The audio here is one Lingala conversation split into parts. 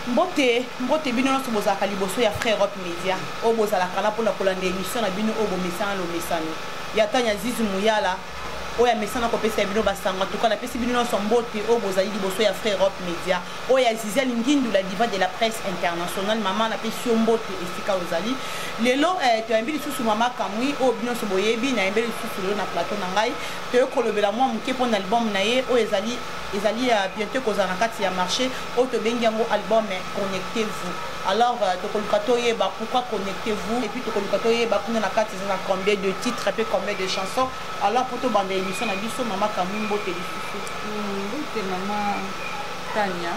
mbote mbote bino nyonso bozalaka liboso ya frère europe média oyo bozalaka na mpona kolanda émission na bino oyo bomesana lomesano ya tanya zizi muyala oyo amesana kopesa bino basango antuka napesi bino nyonso mbote oyo bozali liboso ya frère europe média oyo ya zizia lingindu la diva de la presse internationale mama napesi yo mbote esika ozali lelo eh, toyambi lisusu mama kamwi oyo bino nyonso boyebi nayambi lisusu lelo na plateau na ngai toyei kolobela mwa moke mpo na album na ye oyo ezali ezali ya eh, bientôt kozala na kati ya marché oyo tobengi yango album eh, connectez vous Alors euh, tokoluka toyeba pourquoi connectez-vous et puis tokoluka toyeba kuna na kati eza na combien de titres mpe combien de chansons alors mpo tobanda émission na biso mama kamwi mbote lisusu mbote mm, mama tania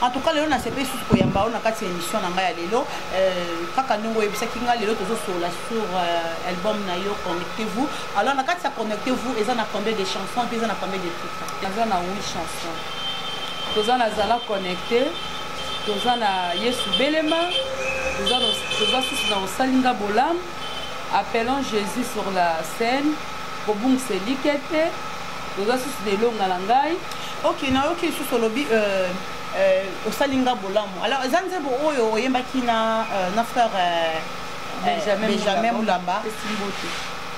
en tout cas lelo nasepe lisusu koyamba yo na kati ya émission na ngai ya lelo euh, kaka ndenge oyebisaki ngai lelo tozosolola sur euh, album na yo connectez vous alors na kati ya connectez vous eza na combien de chansons mpe eza na combien de titres eza na 8 chansons toza na zala connecte toza na yesu belema toza susu na osali nga bolamu appelons jésus sur la scène kobungisa elike te toza susu na elonga na ngai ok nayoki lisusu olobi euh, euh, osali nga bolamu alors eza nzembo oyo oyembaki na euh, na frère benjamin mulamba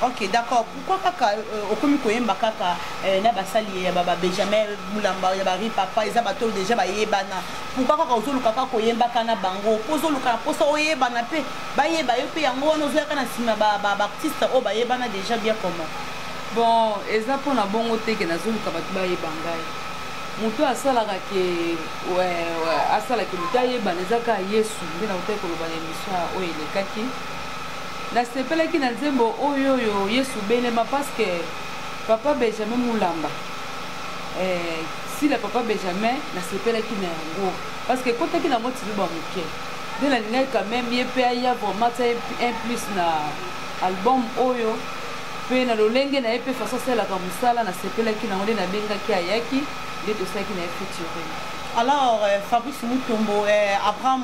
ok d'accord pourquoi kaka euh, okomi koyemba kaka euh, na basali ya baba benjamin mulamba ya bari papa eza bato oyo deja bayebana pourquoi kaka ozoluka kaka koyembaka na bango mpo ozoluka na mposa oyebana mpe bayeba yo mpe yango wana ozoyaka na nsima baartiste oyo bayebana deja bien comment bon eza mpo na bongo te ke nazoluka bato bayeba ngai moto asalaka ke asalaka moto ayebana eza kaka yesu nde nakotaki koloba na emission oyo elekaki nasepelaki na nzembo oyo oyo yesu belema parce que papa benjamin mulamba eh, sila papa benjamin nasepelaki na yango parce que ekotaki na moti luba moke nde nalingaki quand même ye mpe aya vraiment tia un plus na album oyo mpe na lolenge na ye mpe faso asalelaka mosala nasepelaki nango nde nabengaki ayaki nde tosalaki na ye featuring alors euh, fabrice mutombo euh, abraham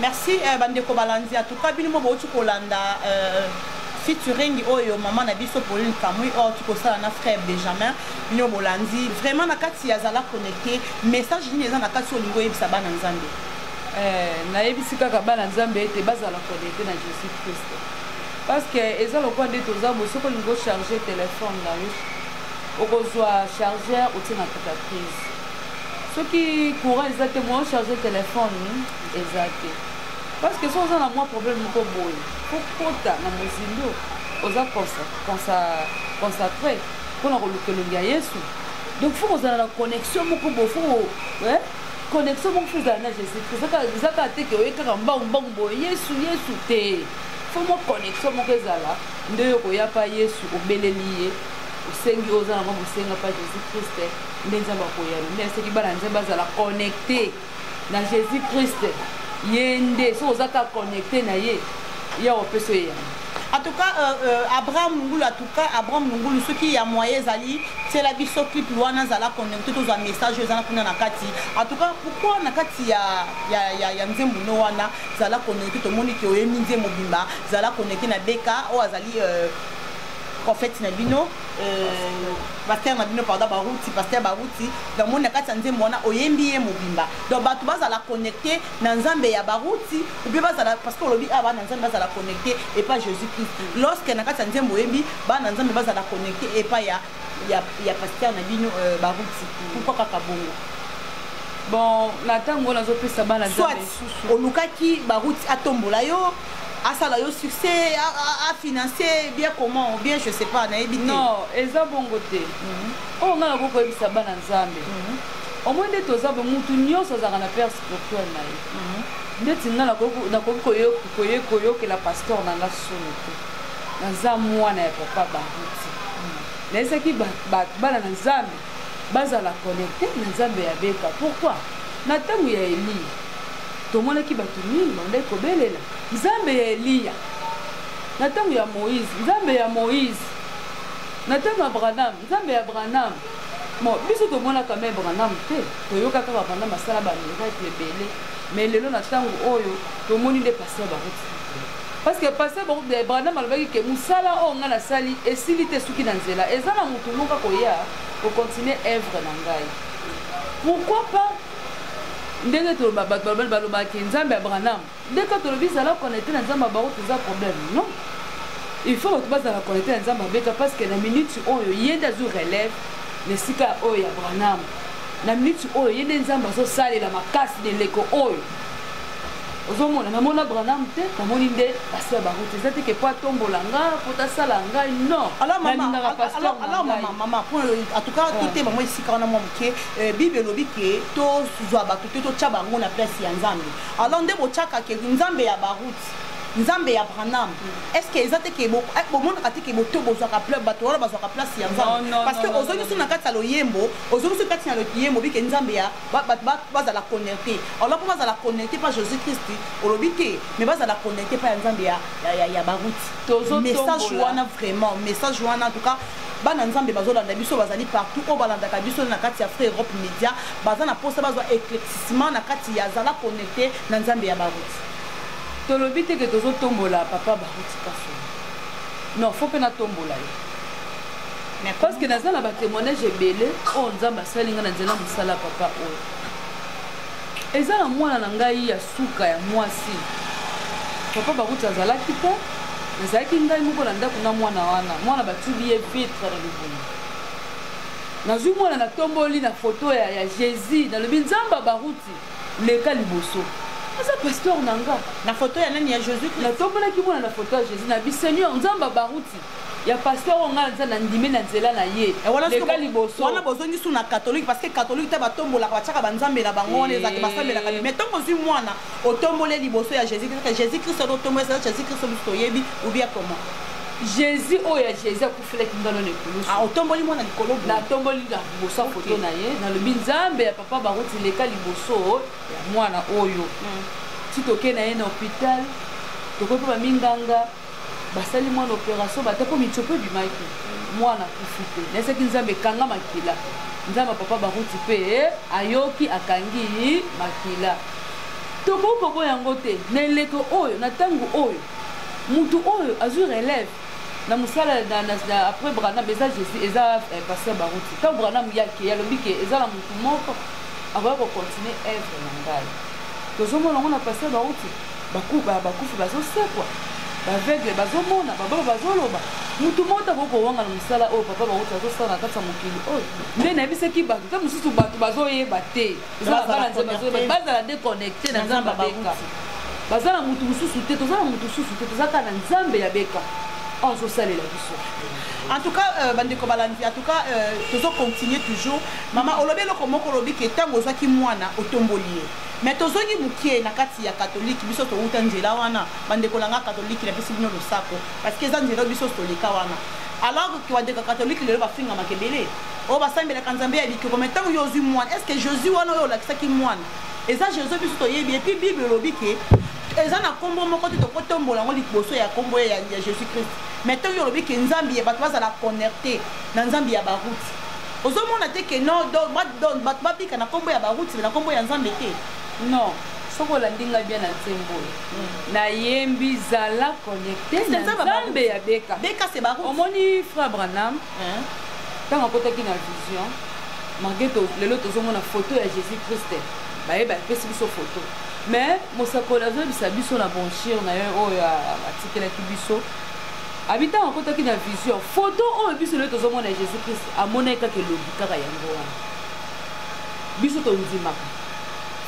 merci eh, bandeko balanzi atuka bino mo bouti kolanda eh, featuring oyo mama na biso pauline kamui oyo oh, tokosala na frère benjamin bino bolandi vraiment na kati ya zala connecte message nini eza na kati olingi oyebisa bana nzambe eh, nayebisi kaka bana nzambe ete bazala connecte na jésus christ parce que eza lokola nde toza bo soki olingi ocharge telefone na yo okozwa chargeur otie na kata prise soki courant eza te moyen charge telefone eza te parce que soki oza na mwa problème moko boye kokota na mozindo oza consacré mpo na koluka elongi ya yesu donc fo kozala na connexion moko bo fo eh? connexion moko fo ezala na jésus christ eza kaka te ke oye kaka mbangu mbangu boye yesu yesu te fo mwa connexion moko ezala nde oyo koya mpa yesu obeleli ye osengi oyo oza nango bosenga mpa jésus christ nde nzambe akoyano nde asengi bana nzambe bazala connecte na jésus christ ye nde soki oza ka connecte na ye ya opesa oyo eyano en tout cas euh, euh, abraham lungulu en tout cas abraham lungulu soki ya moyen ezali tiela biso clip wana azala connecte tozwa message oyo ezana kuna na kati en tout cas pourquoi na kati ya, ya, ya, ya nzembo no wana zala connecte tomoni ke oyemi nzembo mobimba zala connecte na beka oyo azali euh, prophète na bino euh, pasteur na bino pardon baruti pasteur baruti donc moni na kati ya nzembo wana oyembi ye mobimba donc bato bazala connecte na nzambe ya baruti oubie bazala parce que olobi awa ah, bana nzambe bazala connecte epai jésus christ lorsque na kati ya nzembo oyembi bana nzambe bazala connecte epai ya, ya, ya pasteur na bino euh, baruti pourkua kaka bongo bon na ntango oyo nazopesa bana soit olukaki baruti atombola yo asala yo succès afinance bien comment bien je sais pas nayebi te non eza bongo te mhm. oyo ngai nakoki koyebisa bana nzambe mhm. omoi nde toza bo motu nyonso azalaka na père spirituel na ye mhm. ndeti ngai nakoki koye koyokela pasteur na ngai soni te naza mwana ya papa baruti nayesaki bana na nzambe bazala connecte na nzambe ya beka pourkui na ntango ya eliya tomonaki bato mingi bandaki kobelela nzambe ya eliya na ntango ya moïse nzambe ya moïse na ntango ya branam nzambe ya branam mo biso tomonaka me branam te toyoka kaka branam asala bamiracle ebele mais lelo na ntango oyo tomoni nde paster baruti parce que pasteur eh, branham alobaki ke mosala oyo ngai nasali esili te soki na nzela eza na motu moko akoya kocontinue evre na ngai pourkui pas ndenge toloba bato balobali balobaki nzambe ya branham nde ka tolobi zala connecte na nzambe ya bango toza problème non il faut bato bazala connecte na nzambe abeta parce que na minute oyo ye nde azwi relève na esika oyo ya branham na minute oyo ye nde nzambe azosalela makasi na eleko oyo ozomona namona branam te namoni nde pasi ya baroute eza te ke mpo atombola nga mpo tasala ngai non nalingaka pastemama mpo atuka totema mwa esika wana mwa moke euh, bible elobi ke tozwa bato te totya bango na place ya nzambe alors nde botyaka ke nzambe ya baroute nzambe ya branam est ce que eza te ke eh, bomonaka te ke boto bozwaka bato wana bazwaka place ya nzambe parce que ozongi so na kati ya loyembo ozongi so kati na loyembo bike nzambe ya bazala connecte alors mpo bazala connecte mpa jésus christ olobi te mais bazala connecte mpa ya nzambe ya baruti message wana vraiment message wana en tout cas bana nzambe bazolanda biso bazali partout oyo balandaka biso na kati ya frai europe média baza na mposa bazwa éclaircissement na kati ya zala connecte na nzambe ya baruti tolobi te ke tozotombola papa baruti kaso non fo mpe natombola ye parce que naza na batémoignage ebele oyo nzambe asali ngai na nzela mosala ya papa oyo eza na mwana na ngai ya suka ya mwasi papa bakuti azalaki te nazalaki ngai moko na ndako na mwana wana mwana batibi ye vitre na libumu nazwi mwana natomboli na foto ya, ya jésus nalobi nzambe baruti leka liboso aza pasteur na nga na foto ya nani ya jésus natombolaki mwana na foto ya jésus na biseigneur nzambe baruti ya pasteur oyo ngai naza na ndimi na nzela na ye leka liboso wana bozongi su na katolike parce que katolike te batombolaka batiaka banzambe na bango wana ezalaki basambelaka mais ntango ozwi mwana otombole liboso ya jésus christ jésus christ oyo otombolesa eza jésus christ mosu toyebi ou bien comment jésus oyo ya jésus akufelaki ngalo na ekulusu ah, otomboli mwana likolo natomboli na liboso ya foto na ye nalobi nzambe ya papa bango tileka liboso ya mwana oyo hmm. ti toke na ye na hôpital tokoki mpe baminganga basali mwana operation bata mpo mitiopo ebimaki mwana akufi te naisaki nzambe ekanga makila nzambe papa bakuti mpe eh, ayoki akangi makila tokoki kobo yango te na eleko oyo na ntango oyo motu oyo azwi relève na mosala après branam eza jésus eza eh, pasteur baruti ntango branam yaki yalobi ke eza na motu moko akoki kocontinue œuvre na ngai tozomona yango na pasteur baruti bakufi bazosekwa baveugle bazomona bababa bazoloba motu moko ta kokowanga na mosala oyo papa bauti azosala na kati ya mokili oyo nde nayebisaki bato ta mosusu bato bazoyeba te bazala deconnecte na nzambe abeka baza na motu mosusu te toza na motu mosusu te toza kaka na nzambe ya beka oyo azosalela biso en tout cas euh, bandeko balandi en tout cas euh, tozo continuer toujours mama olobi eloko moko olobi ke ntango ozwaki mwana otomboli ye Mais tozongi mukie na kati ya catholique biso towuta nzela wana bandeko na nga catholique napesi bino losako parce que eza nzela biso toleka wana alors que bandeko catholique lelo bafingamaka ebele oyo basambelaka nzambe ya bikeko mais ntango yo ozwi mwana est ce que jésus wana oyo olakisaki mwana eza jésus biso toyebi epuis bible elobi ke eza na nkombo moko te tokotombola yango liboso ya nkombo ya jésus christ mais ntango yo olobi ke nzambe bato bazala conerte na nzambe ya baruti Ozo mona te que non don ba don ba ba bika na kombo ya ba route na kombo ya Nzambe te. Non. Soki olandi nga bien na nzembo oyo mm. nayembi zala connecte na nzambe ya beka beka se baroute omoni fra branam ntango akotaki na vision malgré lelo tozomona foto ya jésus christ baye bapesi biso foto mais mosakoli azoyebisa biso na bonchir na ye oyo atikelaki biso abi ntango akotaki na vision foto oyo biso lelo tozomona ya jésus christ amonaki kaka elobi kaka yango wana biso tondimaka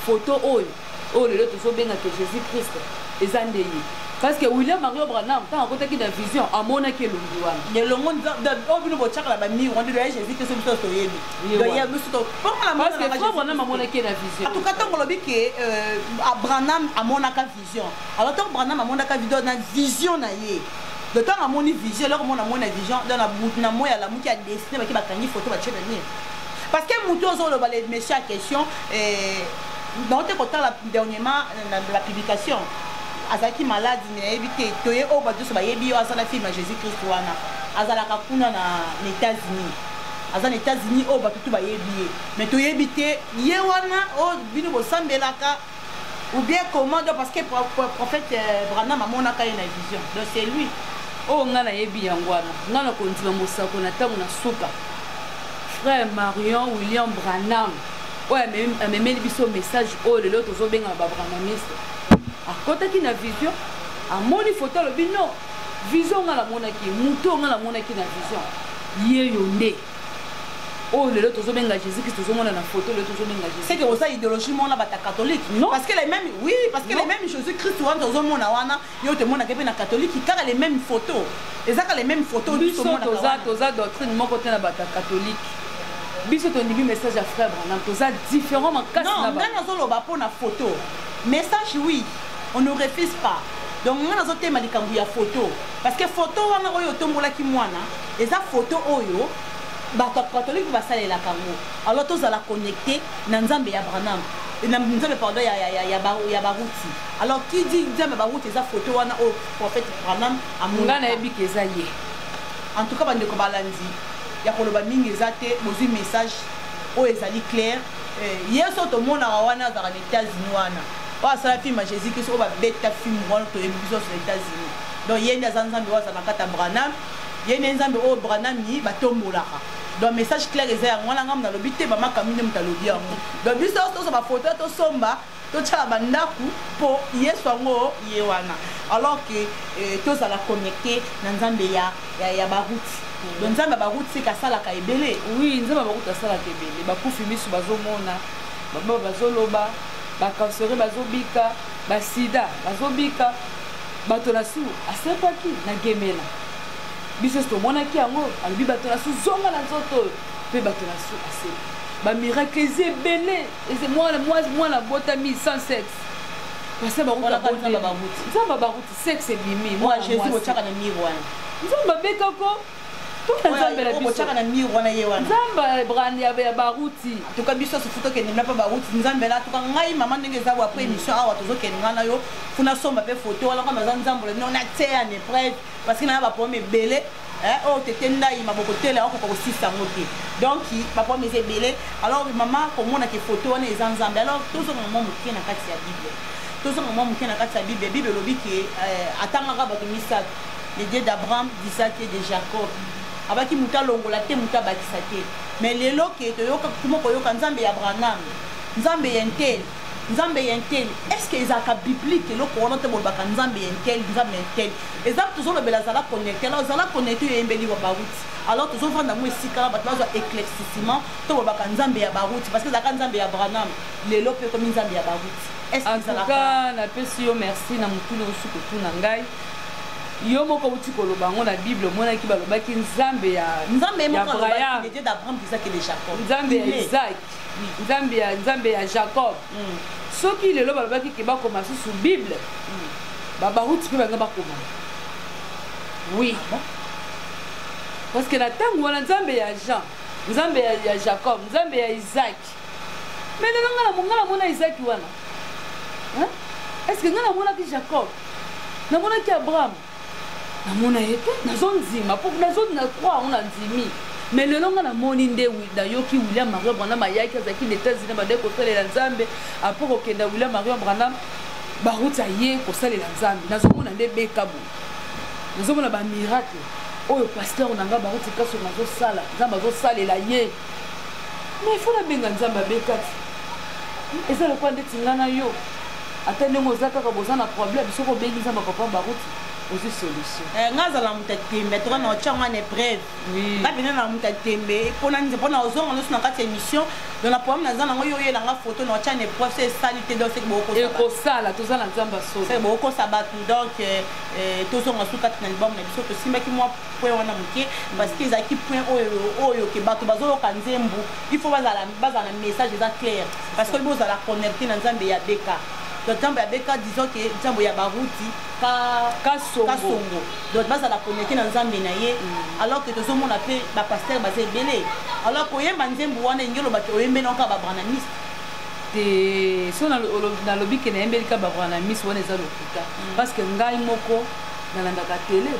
foto oyo oyo lelo tozobengaka jésus christ eza nde ye parce que william mario branham ntango akotaki na vision amonaki elongi wana elongo oyo bino botyaka na bamir wana loya jésus kristo biso toyebi loya biso topongola parce que branham amonaki ye na vision en tout cas ntango olobi ke euh, branham amonaka vision alors ntango branam amonaka video na vision na ye de ntango amoni vision eloko mona amoni na vision don na butu na moi alamuki ya destine baki bakangi foto batie na nini parce que motu ozoloba le monsieur ya question naote eh, kotala dernièrement na la publication azalaki malade nayebi te toye oyo bato nyonso bayebi yo aza na filme ya jésus christ wana azalaka kuna na états-unis aza na états-unis oyo bato tu bayebi ye mais toyebi te ye wana oyo bino bosambelaka ou bien comment donc parce que prophète euh, branham amonaka ye na vision donc c'est lui oyo oh, ngai nayebi yango wana ngai nakondima mosako na ntango na suka frère marion william branham oyo oh, amemeli biso message oyo oh, lelo tozobengana babranamiste akotaki na vision amoni foto alobi non vision ngai namonaki moto oyo ngai namonaki na vision ye yo nde oyo lelo tozobenga jésus christ tozomona na photo lelo tozobenga jésus seke oza idéologie mona bata catholique non parce que les mêmes oui parce que non. les mêmes jésus christ wana tozomona wana yo tomonaka mpe na catholique kaka les mêmes photos ezaka les mêmes photos biso toza toza doctrine moko te na bata catholique biso tondimi message ya frère branam toza différent makasi non ngai nazoloba mpo na photo message oui on ne refuse pas donc ngai nazotema likambo ya photo parce que photo wana oyo otombolaki mwana eza foto oyo bato ya katolike basalelaka yango alors tozala connecte na nzambe ya branam na nzambe pardon ya, ya, ya, ya, ba, ya baruti alors qui dit nzambe ya baruti eza foto wana oyo prophète branam amonga nayebi ke eza ye en tout cas bandeko balandi ya koloba mingi eza te bozwi message oyo ezali claire eh, ye so tomonaka wana azalaka na états-unis wana oyo asala film ya jésus kristo oyo babeta film wana toyebi biso nyonso na états-unis donc ye nde aza nzambe oyo aza na kati ya branam Ye nde nzambe oyo branham ye ba tombolaka donc message clair eza yango wana ngambo nalobi te bama kami nde moto alobi yango donc biso nyonso tozwa bafoto ya tosomba totyaka bandako mpo yesu yango ye wana alors ke euh, tozala connecte na nzambe ya, ya, ya baruti mm. donc nzambe ya baruti seke asalaka ebele oui nzambe ya baruti asalaka ebele bakufi miso bazomona baba bazoloba bakansere bazobika basida bazobika bato na su asekwaki na gemena biso esi tomonaki yango alobi bato na su zonga na nzoto oyo mpe bato na su asekwa bamiracle eza ebele mwana abotami sans sexe nzambe abaruti sexe ebimi nzambe abekako okotiaka na mur wana ye wana nzambe brand ya baruti atuka biso susu tokende mna mpe baruti nzambe na atuka ngai mama ndenge eza bwa après émission awa tozokende ngai na yo funa somba mpe foto wana kama eza nzambe olobino natie ya nepreve parce que naya baproblème ebele Eh, oyo oh, tete ndai maboko tele akokoka kosisa yango te donc baproblème eza ebele alors mama komonaka foto wana eza nzambe alors tozonga mwa moke na kati ya bible tozonga mwa moke na kati ya bible bible elobi ke eh, atangaka bato misato le dieu d'abraham d'isaac et de jacob abaki moto alongola te moto abakisa te mais lelo ke toyoka kuma koyoka nzambe ya branham nzambe ya ntele nzambe ya ntele est ce que ezalaka biblique eloko wana te bolobaka nzambe ya ntele nzambe ya ntele eza tozolobela azala connecte alors ozala connecte oyo eyembeli wa bawuti alors tozovanda yango esika na bato bazwa éclaircissement to bolobaka nzambe ya bawuti parce que ezalaka nzambe ya branham lelo mpe ekomi nzambe ya bawuti est ce que ezalaka napesi yo merci na motuna osuku tuna ngai yo moko outi koloba yango na bible omonaki balobaki nzambe ya nzambe ye moko alobaki dieu d'abraham d'isaac et de jacob nzambe ya isaac nzambe ya nzambe ya jacob mm. soki lelo balobaki ke bakoma susu bible mm. babahuti mpe banga bakoma oui ah parce que na ntango wana nzambe ya jean nzambe ya jacob nzambe ya isaac mais lelo nga nga namona izaki wana est ce que nga namonaki jacob namonaki abraham namona ye te nazondima po nazona croire ngo nandimi mais lelo nga namoni nde nayoki william marion branham ayaki azalaki na etats-unis abandaki kosalela nzambe apres kokenda william marion branham baruti aye kosalela nzambe nazomona nde beka boye nazomona bamiracle oyo paster na ngai baruti kasi nazosala nzambe azosalela ye mais ifo nabenga nzambe abe kati eza lokola ndeti nga na yo ata ndenge oza kaka boza na problème soki obengi nzambe papa baruti ozwi solution eh, nga azala moto ya tembe toka na otya nga na épreuve nga mpenza na moto ya tembe mpona nze mpona ozonga nyonso na kati ya émission don na problème naza nango yo oyela nga foto na otya na épreuve so esali te donc seke bookosala toza na nzambe asolo bokokosa bato donc eh, eh, tozonga su kati na libamu na biso tosimbaki mwa point wana moke parce que ezalaki point oyo oyo ke bato bazoyoka nzembo il faut bazala bazala na message eza claire parce que bozala connecte na nzambe ya beka donc nzambo ya beka disons ke nzambo ya baruti kasongo donc bazala connecte na nzambe na ye mm. alors ke tozomona mpe bapaster baza ebele alors koyemba nzembo wana elingi oloba te oyembeli yango kaka babranamiste te so nalobi ke nayembeli kaka babranamiste wana eza lokuta mm. parce que ngai moko nalandaka tele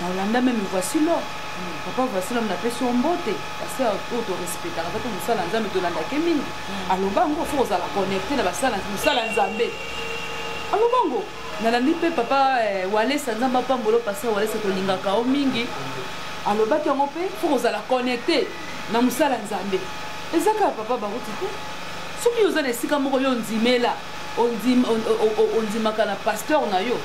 nalanda meme voici lor papa voici lor napesi yo mbote base oyo torespectaka ata to mosala ya nzambe tolandake mingi aloba yango fo kozala connecte na mosala ya nzambe aloba yango nalandi mpe papa eh, walesa nzambe apambolo pasa walesa tolingaka yo mingi alobaki yango mpe fo kozala connecte na mosala ya nzambe eza kaka papa bakuti te soki oza na esika moko yo ondimela ondimaka na pasteur na yo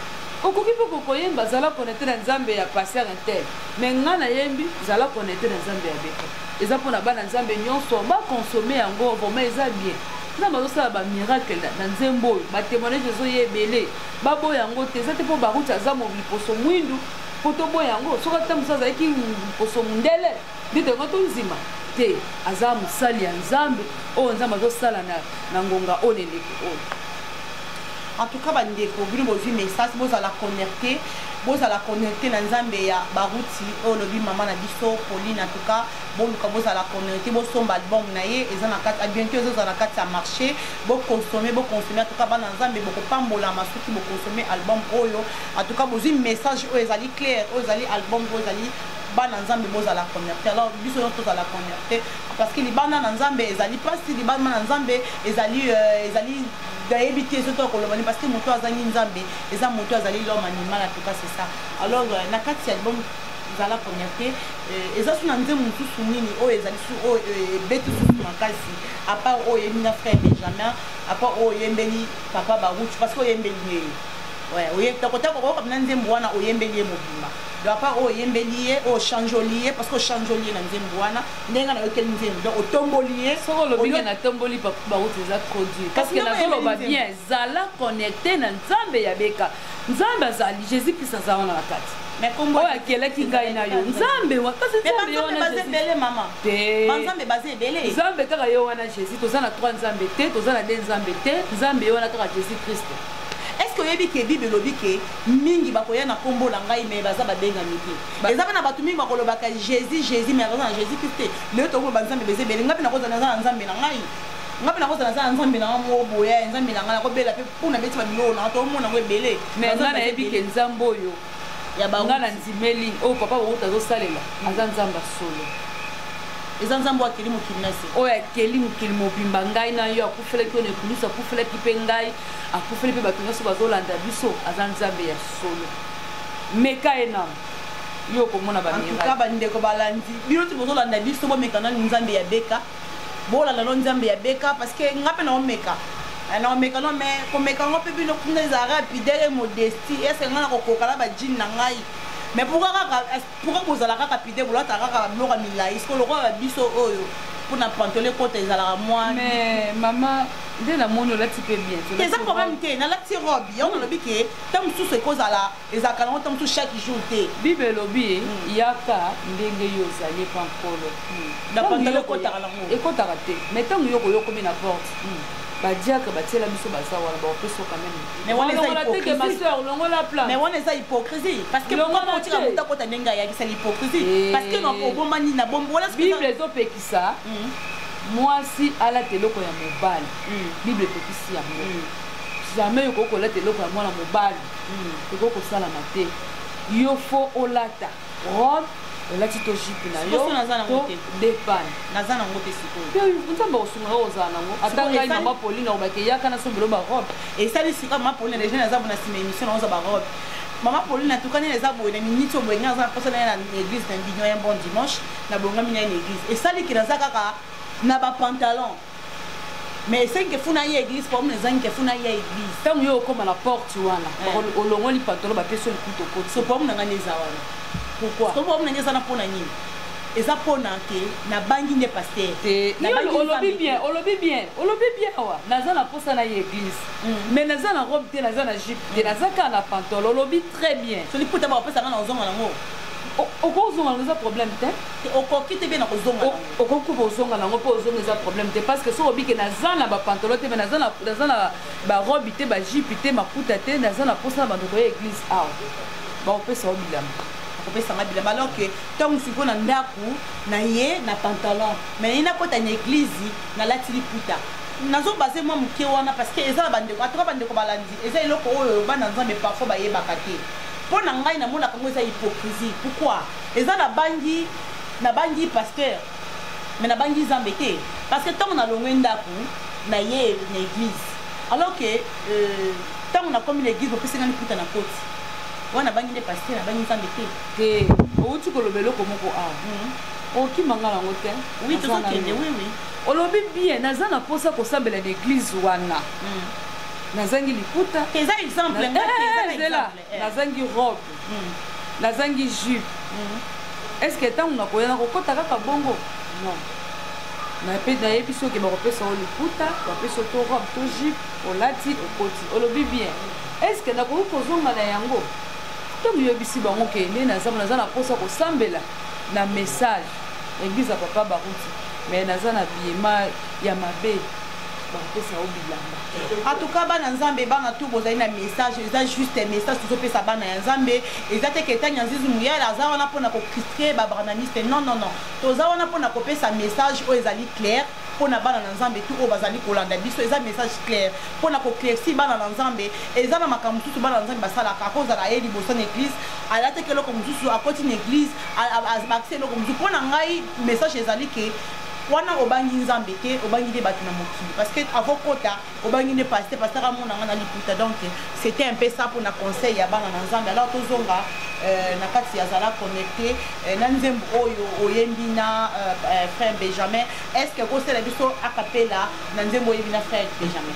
okoki mpe kokoyemba zala connecte na nzambe ya pasteur intel me ngai nayembi zala connecte na nzambe ya beka eza mpo na bana nzambe nyonso bakonsome yango vraimen eza bien nzambe azosala bamiracle na nzembo oyo batemoignage ezoya ebele baboya yango te eza te mpo baruti aza mobiposo mwindu mpo toboya yango soki ata mosu azalaki mposo mondele nde toyaka tondima te aza mosali ya nzambe oyo nzambe azosala na, na ngonga oyo na eleko oyo en tout cas bandeko bino bozwi message bozala connecte bozala connecte na nzambe ya baruti oyo olobi mama na biso pauline en tout cas boluka bozala connecte bosomba album na ye eza na kati bientôt ezozala na kati ya marché boconsome boconsome atuka bana nzambe bokopambolama soki boconsome album oyo atuka bozwi message oyo ezali claire oyo ezali album oyo ezali bana nzambe bozala converte alors biso nyonso tozala converte parce que libanda na nzambe ezali mpasi libanda na nzambe ezali euh, ezali nayebi te soki akoloba ni parce que moto azangi nzambe eza moto azali l'homme animal en tout cas c'est ça alors euh, na kati ya libom zala converte euh, eza so na nzembo mosusu nini oyo ezali su oyo ebeti susu makasi apart oyo oyembi na frère benjamin apart oyo oyembeli papa barouche parce que oyembeli ye oyekotaka koyoka mpena nzembo wana oyembeli ye mobimba de la part oyo oyembeli ye oyo ochangeoli ye parce que ochangeoli ye na nzembo wana ndenge nga nayokeli nzembo donc otomboli ye soki olobi nga natomboli bakuti eza trop dur parce que nazoloba bien zala connecte na nzambe ya beka nzambe azali jésus christ aza wana na kati oyo akelaki ngai na yo nzambe nzambe kaka yo wana jésus toza na trois nzambe te toza na de nzambe te nzambe yo wana kaka jésus christ est ce que oyebi ke bible elobi ke mingi bakoya na kombo na ngai mais baza babengami te eza pe na bato mingi bakolobaka jésus jésus mais akoza na jésus christ te leo tokomi banzambe beza ebele ngai mpe nakozala naza na nzambe na ngai nga mpe nakozala za nzambe nanga moko boye ya nzambe na nga nakobela mpe mpo na beti babiloko nanga tomona yango ebele me nga nayebi ke nzambe oyo nga na ndimeli oyo papa bokoti azosalela aza nzambe asolo eza nzambe oyo akeli mokili na se oyo akeli mokili mobimba ngai na yo akufelaki oyo na ekulusu akufelaki mpe ngai akufeli mpe bato nyonso bazolanda biso aza nzambe ya solo meka ye nano yo okomona bamituka bandeko balandi bino ti bozolanda biso bomeka nano nzambe ya beka bolanda no nzambe ya beka parce que nga mpe naomeka eh, naomeka no me komeka ngo mpe bino kuna eza rapidere modesti ese nga na kokoka na bajine na ngai me pourkua kaka pourquoi bozala kaka pide bolata kaka babiloko ya milai siko lokola babiso oyo mpona pantole ekota ezalaka mwa mais mama nde namoni olati mpe bien eza problème te nalati robe yango nalobi ke ntango mosusu ekozala ezalaka nango ntango mosusu chaque jour te bible elobi hmm. yaka ndenge yo ozali epa nkolo hmm. ekotaka te mais ntango yo koyokomi na porte hmm. badiakre batiela biso baza wana baopesoka meme mais wana eza hypocrisie ma sœur longola plan mais wana eza hypocrisie parce que pourquoi pas otika muta kota ndenge ayakisa l'hypocrisie eh. parce que non obomani na bombo wana bible ezo pekisa hmm. mwasi alata eloko ya mobali hmm. bible epekisi yango hmm. jamais okoki kolata eloko ya mwana mobali ekoki kosalama te yo fo olata robe olati to jipe na yo to depane naza nango te sikoyo nzambe akosungaka ozala nango ata ngai mama polina obake eyaka na sombelo barobe esali sika mama polina deja naza bona nsima émission na oza barobe mama polina tukani na eza boye na miniti oyo boye ngai aza naposa naye na église na mbino ya bon dimanche nabongami naye na église esali ke naza kaka na bapantalon mais esengi ke funa ye église problème ezangi ke funa ye église ntango yo okoma na porte wana eh. olongoli pantolo bapesi olikuta okoti so problème na ngai eza wana pourquoi so problème na ngai eza na mpo na nini eza mpo na ke nabangi nde paster olobi bien olobi bien olobi bien awa naza na mposa na ye église mm. mais naza na robe te naza na jupe te mm. naza kaka na pantolo olobi très bien so liputa bakopesa ngai na ozonga nango okozonga nango eza problème te okoki te bie na kozonga okoki kuba ozonga nango mpo ozonga eza problème te parce que soki obike naza na bapantolo te me naza na barobi te bajipe te makuta te naza na mposa na bando koya église awa bakopesa yo bilama akopesanga bilama alors que ntango mosusu mpo na ndako na ye na pantalon mais ye nakota na église nalati liputa nazobase mwa moke wana parce que eza na bandeko atoka bandeko balandi eza eloko oyo bana nzambe parfois bayebaka te mpo na ngai namonaka yango eza hypocrisie pourquoi eza na bangi nabangi pasteur mais nabangi nzambe te parce que ntango nalongwe ndako naye na église alors que euh, ntango euh, nakomi na église bopesi nga likuta na koti wana nabangi nde pasteur nabangi nzambe te te outi koloba eloko moko awa mhm. okima nga nango te oui tozokende oui oui olobi bien naza na mposa kosambela na église wana mhm. nazangi likuta eza exemple eh, eh, eh, eh. nazangi robe mm. nazangi jupe mm. est ce que ntango nakoya nakokɔta kaka bongo non nayebi soki bakopesa yo liputa bapesa yo to robe to jupe olati okoti olobi bien est ce que nakoki kozonga na yango ntango oyebisi bango ke nde naza naza na mposa kosambela na message eglise ya papa baruti mais naza na biyema ya mabe bakopesa yo bilamba atuka bana nzambe bana tu bozali na message eza juste message tozopesa bana ya nzambe eza te ketani ya nzizi muyele aza wana mpona kokritike babranamiste non non non toza wana mpona kopesa message oyo ezali claire mpo na bana na nzambe tu oyo bazali kolanda biso eza message claire mpo na koclairci bana na nzambe eza na makambo mosusu bana na nzambe basalaka akozala ye liboso na église alataki eloko mosusu akoti na église abakisi eloko mosusu mpo na ngai message ezali ke wana obangi nzambe te obangi nde bato na mokili parce que avokota obangi nde paste paste akamona nga na liputa donc c'était un peu ça mpo na conseil ya bana na nzambe alors tozonga euh, na kati ya zala connecte euh, na nzembo oyo oyembi na euh, frère benjamin est ce que kosala biso akapela na nzembo oyebi na frère benjamin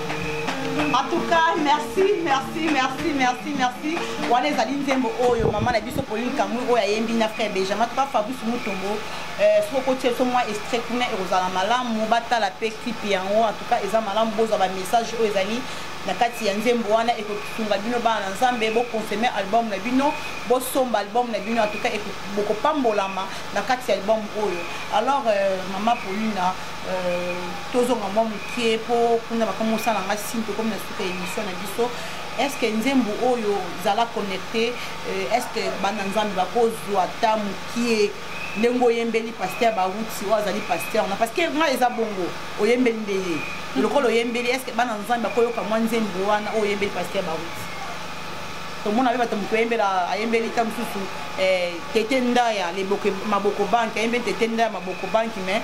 En tout cas, merci, merci, merci, merci, merci. Wana ezali nzembo oyo mama na biso Pauline Kamui oyo ayembi na frère Benjamin to Fabrice Mutombo. Euh, soki okoti biso mwa extrait kuna ekozala malamu batala mpe clip yango en tout cas eza malamu bozwa ba message oyo ezali na kati ya nzembo wana ekosunga bino bana na nzambe bokonsome album na bino bosomba album na bino en tout cas bokopambolama na kati ya album oyo alors euh, mama Paulina Euh, tozonga mwa moke mpo kuna bakomi kosala ngai sini tokomi na suka ya émission na biso est ce que nzembo oyo zala connecte euh, est ce que bana nzambe bakozwa ata mokie ndenge oyembeli paster bauti oyo azali paster wana parce que ngai eza bongo oyembeli nde ye lokola oyembeli est ce que bana nzambe bakoyoka mwa nzembo wana oyo oyembeli paster bauti tomona mpe bato moto oyembela ayembeli ta mosusu eh, tete ndaya maboko banki ayembeli tete ndaya maboko banki mais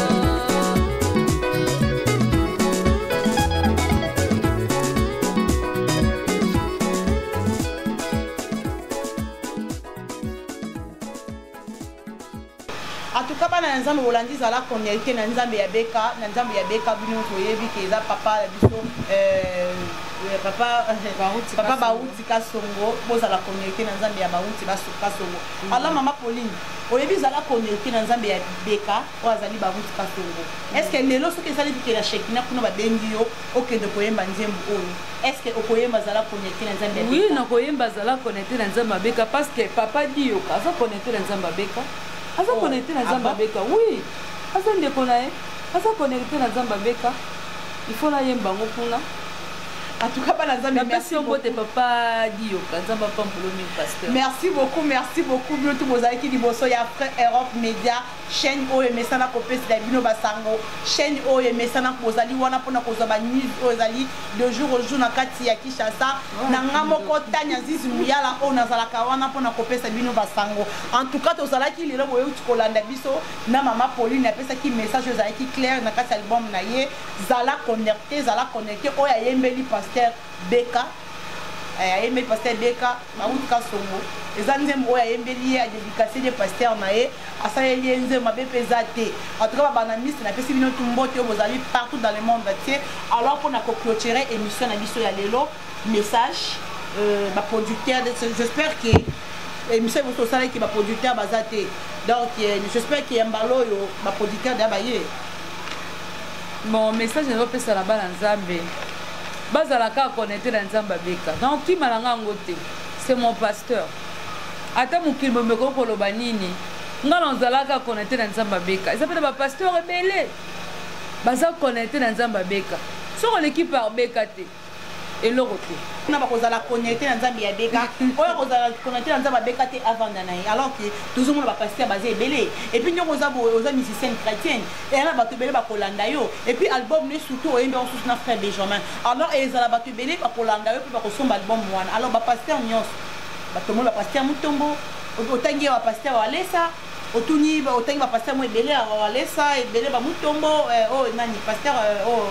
nzambe bolandi zala congérité na nzambe ya beka na nzambe ya beka bino toyebi ke eza papa na biso euh, euh, papa euh, bauti kasongo bozala congérité na nzambe ya bauti kasongo mm. alors mama pauline oyebi zala connecte na nzambe ya beka oyo azali baruti kasongo estce lelo soki ezali bikela shekina kuna babengi yo okende koyemba nzembo oyo estce okoyemba zala connecte na nzambe oui nakoyemba zala connecte na nzambe abeka parce que papa diyoka aza connecte na nzambe abeka aza oh, connecte na nzambe abeka oui aza ndeko na ye aza connecte na nzambe abeka il faut nayemba yango kuna En tout cas, bana Nzambe, merci beaucoup. papa Dioka, Nzambe apambolo mingi pasteur. Merci beaucoup, merci beaucoup. Bino tout bozalaki liboso ya Frère Europe Media, chaîne oyo emesana kopesela bino basango, chaîne oyo emesana bozali wana pona kozwa ba news oyo ezali de jour au jour na kati ya Kinshasa. Oh, na nga moko Tanya Zizi Muyala oyo nazalaka wana pona kopesa bino basango. En tout cas, tozalaki lelo boyeuti kolanda biso na mama Pauline apesaki message oyo ezalaki clair na kati ya album na ye. Zala connecte, zala connecte oyo ayembeli pasteur Beka. Eh, ayembeli pasteur Beka, Maout Kasongo. Eza nzembo oyo ayembeli ye, adedicaceli ye pasteur na ye, asaleli ye nzembo mabe mpe eza te. En tout cas, babanamiste, napesi bino tu mbote oyo bozali partout dans le monde entier. Alors, mpo na koclôturer émission na biso ya lelo, message, euh, baproducteur, j'espère que émission biso tosalaki baproducteur baza te. Donc, euh, j'espère que ya mbala oyo baproducteur deya baye. bon message nazopesa na bana nzambe bazala kaka connecte na nzambe abeka nakokima na nga yango te c'est mon pasteur ata mokili bomeko koloba nini nga nazalaka connecte na nzambe abeka eza mpe na bapasteur ebele baza connecte na nzambe abeka soki oleki par beka te eloko te kuna bakozala connecte na nzambe ya beka oyo akozala connecte na nzambe ya beka te avanda na ye alors que tozomona bapaster baza ebele epuis ndenge oza boye oza musicienne chrétienne eya na bato ebele bakolanda yo epuis album ne surtout oyembi yango susu na frère benjamin alors ezala bato ebele bakolanda yo mpe bakosomba album wana alors bapaster nyonso batomoli bapaster motombo otangi ya bapaster walesa otuni otangi ba pasteur mo ebele ya walesa ebele ba mutombo eh, oh nani pasteur eh, oh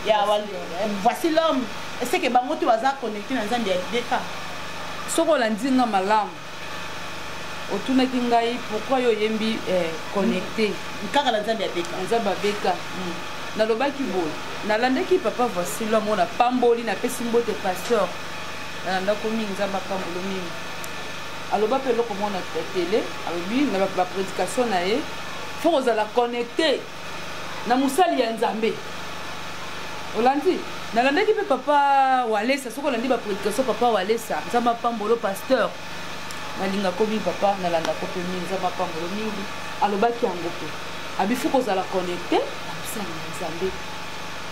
ya eh, voici l'homme c'est que bango tout baza connecté na nzambe ya deka soki olandi nga malamu otunaki ngai pourkui yo oyembi eh, connecté mm. kaka na nzambe abeka nzambe abeka mm. nalobaki boye nalandaki papa voici l'homme oyo napamboli napesi mbote pasteur nalanda komingi nzambe apambolo mingi aloba mpe eloko moko na tele alobi na baprédication na ye fo kozala connecte na mosali ya nzambe olandi nalandaki mpe papa walesa soki olandi baprédication papa walesa nzambe apambolo pasteur nalingako mingi papa nalandako mpe mingi nzambe apambolo mingi alobaki yango mpe abi fo kozala connecte na mosali ya nzambe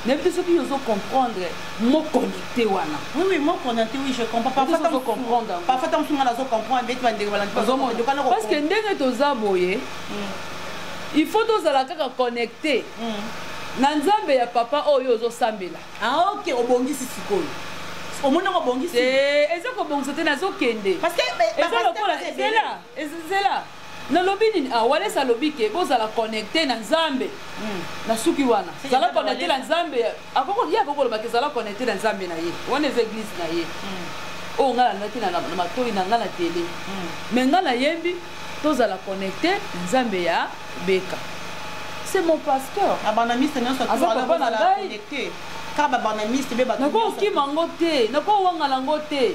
nayebi te soki yo ozo comprendre mo connecté wana oui oui mo connecté oui je comprends parfois tant comprendre parfois tant que nazo comprendre mais tu vas ndenge balandi bazo mo dokana parce que ndenge toza boye hmm. il faut tozala kaka connecté hmm. na nzambe ya papa oyo ozo sambela ah OK obongisi sikoyo omoni yango obongisi eh, eza kobongisa te nazokende eza lokola zela ezela nalobi nini ah, walesa alobi ke bozala connecte na nzambe mm. nasuki wana zala connecte na nzambe ye akokoloba ke zala connecte na nzambe na ye wana eza eglise na ye mm. oyo ngai nalandaki na matoi na ngai na tele mm. me ngai nayembi tozala connecte na nzambe ya beka c'est mon pasteur abanamiste nyonso aza papa na ngai nakokima yango te nakowangana yango te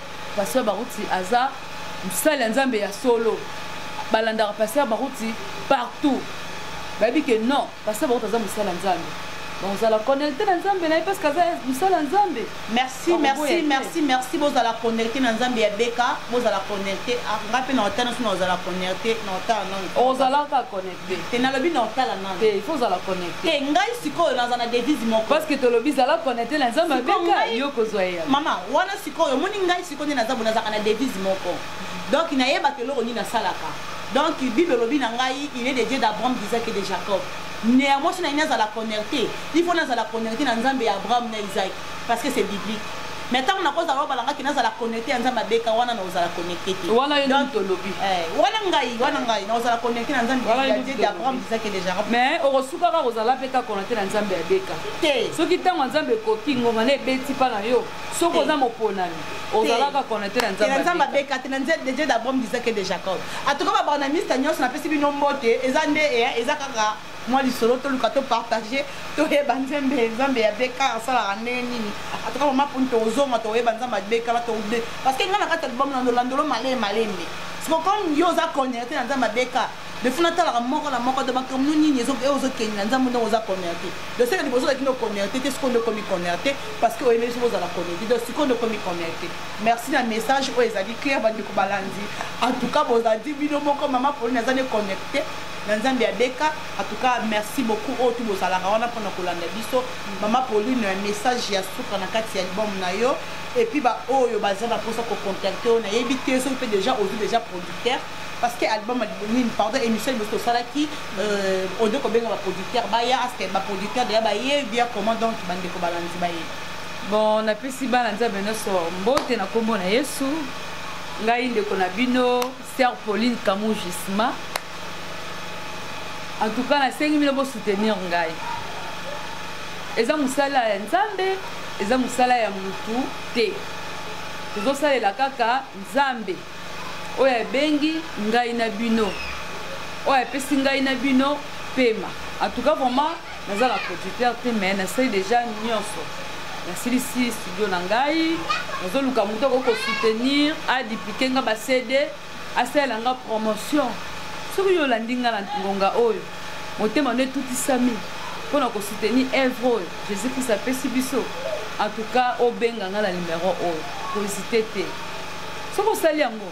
pasteur baruti aza mosali ya nzambe ya solo balandaka pasteur baruti partout bayebi ke non pasteur baruti aza mosali ya nzambe bozala connecte na nzambe na ye parce que aza mosali ya nzambe merci merci merci merci bozala connecte na nzambe ya beka bozala connecte ah, nga mpe na otana so na ozala connecte na otala nani ozalaka connecte te nalobi na otala nani te il faut zala connecté te ngai sikoyo naza na devise moko parce que tolobi zala connecté na nzambe abeka yo kozwa ya mama wana sikoyo omoni ngai sikoyo nde naza bonazaka na devise moko donc nayeba ke eloko nini nasalaka donc bible olobi na ngai il est de dieu d'abraham d'isaac et de jacob néanmoins so naini azala connecté il faut nazala connecté na nzambe ya abraham na isaac parce que c'est biblique mais ntango nakozala oyo balangaki nazala connecte ya nzambe abeka wana nakozala connecte te wana ye nani tolobi eh, wana ngai wana ngai nakozala connecte na nzambe ya abraham disaki deja mais okosukaka kozala mpe kaka connecte na nzambe abeka te soki ntango ya nzambe ekoki ngonga na ebeti mpa na yo soki oza moponami ozalaka connecte na nzambe abeka te na nzambe deja abraham disaki de jacob atuka babanamiste nyonso napesi bino mbote eza nde eh, eza kaka mwa lisolo toluka to partage toyeba nzembe nzambe ya beka asalaka ndenge nini atoka mama poni tozonga toyeba nzambe abekala tobe parce que ngai na kati ya libamu na ndolandolo maleye malembe siko comme yo oza conerte na nzambe abeka defu natalaka moko na moko dobakamno nini ozokende na nzambe ndenge oza conerte do seke liboso ozalaki no conerte te sikoyo nde okomi conerte parce que oyebeli soki ozala conerte do sikoyo nde okomi conerte merci na message oyo ezali claire bandeko balandi en tout cas bozali bino moko mama polini aza ne connecte na nzambe ya beka atuka merci beaucoup oyo tu bozalaka wana mpona kolanda biso mama pauline message ya suka na kati ya album na yo epuis baoyo baza na mposa kocontacte oyo nayebi te soki mpe déjà ozwi déjà producteur parce que album nini pardon émission liboso tosalaki euh, ode kobenga baproducteur baya aske baproducteur deya baye bia comment donc bandeko balanzi baye bon napesi bana nzambe nyonso mbote na nkombo na yesu ngai ndeko na bino Sœur Pauline Kamujisma. En tout cas, nasengi bino bosoutenir ngai. Eza musala ya Nzambe, eza musala ya mutu te. Tozosalela kaka Nzambe oyo abengi ngai na bino, oyo apesi ngai na bino pema. En tout cas, vraiment naza na producteur te mais nasali deja nyonso nasilisi studio na ngai nazoluka moto akoki kosoutenir adiplike nga bacd asalela nga promotion soki yo olandi nga na ngonga oyo motema no etutisami mpo na kosoutenir evre oyo jésus christ apesi biso en tout cas obenga nga na numero oyo koezite te soki osali yango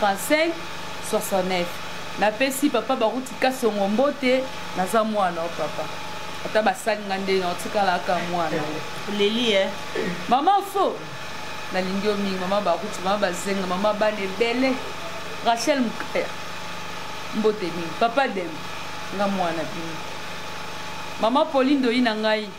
35 69 napesi papa baruti kasongo mbote naza mwana o papa ata basali nga nde naotikalaka mwana oleli e mama fo nalingi yo mingi mama baruti mama bazenga mama bana ebele rachel mukaya mbote mingi papa dembe nga mwana bino mama pauline doyi na ngai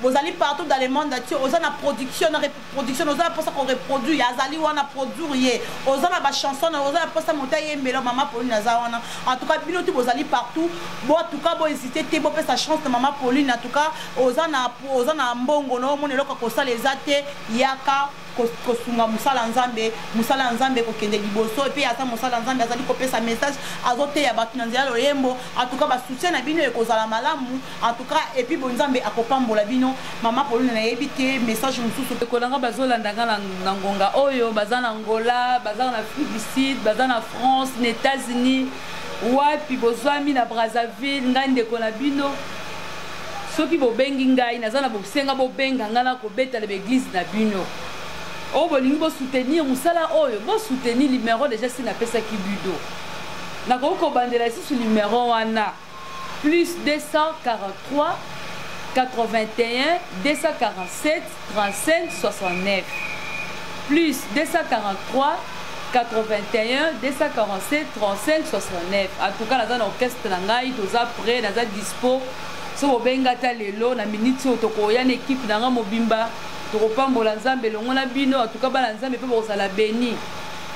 bozali partout dans le monde entier oza na production na reproduction oza na mposa koreproduire azali wana produire ye oza na bachanson na oza na mposa moto ayembela mama pauline aza wana en tout cas bino ti bozali partout bo en tout cas bohésite te bopesa chance na mama pauline en tout cas oza na oza na mbongo na omona eloko ya kosala eza te yaka kosunga mosala ya nzambe mosala ya nzambe kokende liboso epe aza mosala ya nzambe azali kopesa message azoteya bato na nzela loyembo antuka basoutien na bino ekozala malamu antuka epi bo nzambe akopambola bino mama polone nayebi te message mosusu ekolanga bazolanda nga na ngonga oyo baza na angola baza na afrique du sud baza na france na états-unis wapi bozwami na brazzaville ngai ndeko na bino soki bobengi ngai naza na bosenga bobenga ngai nakobetala baeglize na bino oyo oh, bolingi bosoutenir mosala oyo bosoutenir limero deja si napesaki bido nakoki kobandela lisusu limero wana plus 243 81 247 3569 plus 243 81 247 35 69 en tout cas naza na orchestre na ngai toza prêt naza dispo soki obenga ata lelo na miniti oyo tokoya na ekipe na ngai mobimba tokopambola nzambe elongo na bino en tout cas bana nzambe mpe bokozala beni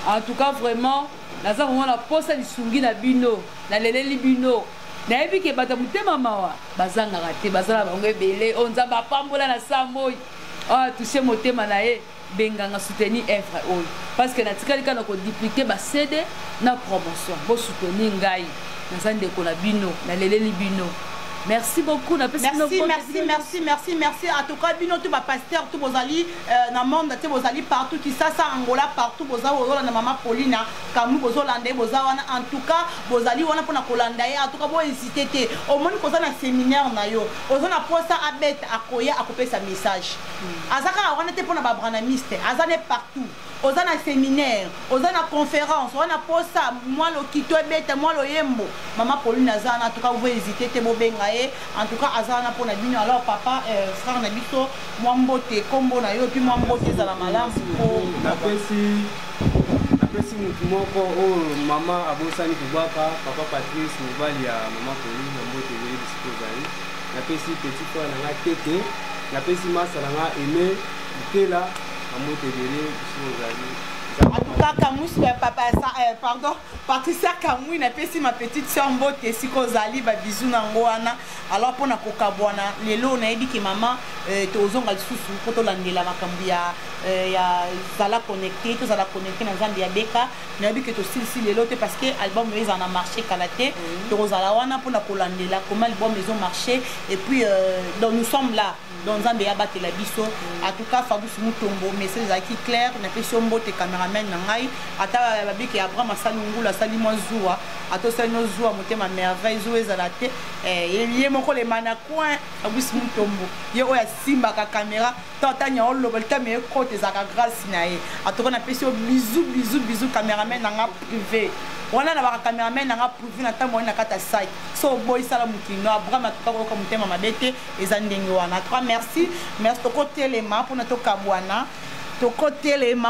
en tout cas vraiment naza komona mposa lisungi na bino naleleli bino nayebi ke bato ya motema mawa bazangaka te baza na bango ebele oyo oh, nzambe apambola na saa moi oyo ah, atushe motema na ye benganga soutenir evre oyo parce que natikali kaka na koduplike basede na promotion bosoutenir ngai naza ndeko na bino naleleli bino merci beaucoup na pesi merci merci merci merci merci en tout cas bino tout ba pasteur tout bozali euh, na monde te bozali partout kisasa angola partout boza oyola na mama paulina Kamuy bozo landa ye boza wana en tout cas bozali wana pona kolanda ye en tout cas bo hésiter te omoni koza na séminaire na yo oza na posa abeta akoya akopesa message hmm. aza kaka wana te pona ba branamiste aza ne partout oza na séminaire oza na conférence oza na posa mwa lokito ebeta mwa loyembo mama pauline aza wana antuka vo hésité te bobenga ye antuka aza wana mpo na bino alors papa euh, frère na biso mwa mbote nkombo na yo epuis mwa mbote ezala malamu mpo napesi motu moko oyo oh, mama abosani kobwaka papa patrice mobali ya mama poli na mbote ebele bisika ozali napesi petit frere na ngai tete napesi masa na ngai eme mpela na mbote ebele bisika ozali atukaka mwisu ya papa eh, pardon Patricia Kamui na pesi ma petite sœur mbote esika ozali ba bisous na ngo wana alors pona kokabwana lelo nayebi ke mama euh, tozonga lisusu mpo tolandela makambo ya euh, ya zala connecte tozala connecte na nzambe ya beka nayebi ke tosilisi lelo te parce que album oyo ezala na marché kala te tokozala wana mpona kolandela koma album ezo marché et puis euh, donc nous sommes là donc nzambe ya batela biso en tout cas fabrice mutombo message ezalaki claire napesi yo mbote cameraman na ngai ata babiki abraham asali ngulu asali mwa zuwa ata osali no zuwa motema merveille zuwa ezala te eh, ye moko lema na coin fabrice mutombo ye oyo asimbaka kamera to ata nya oloba litama ekota ezalaka grâce na ye atoka napesi yo bizu bizu bizu cameraman na nga privé wana na baka cameraman na nga privé na ntango wani na kata saki so oboyi sala mokili no abraham atoka koyoka motema mabe te eza ndenge wana trois merci merci tokotelema mpona tokabuana tokotelema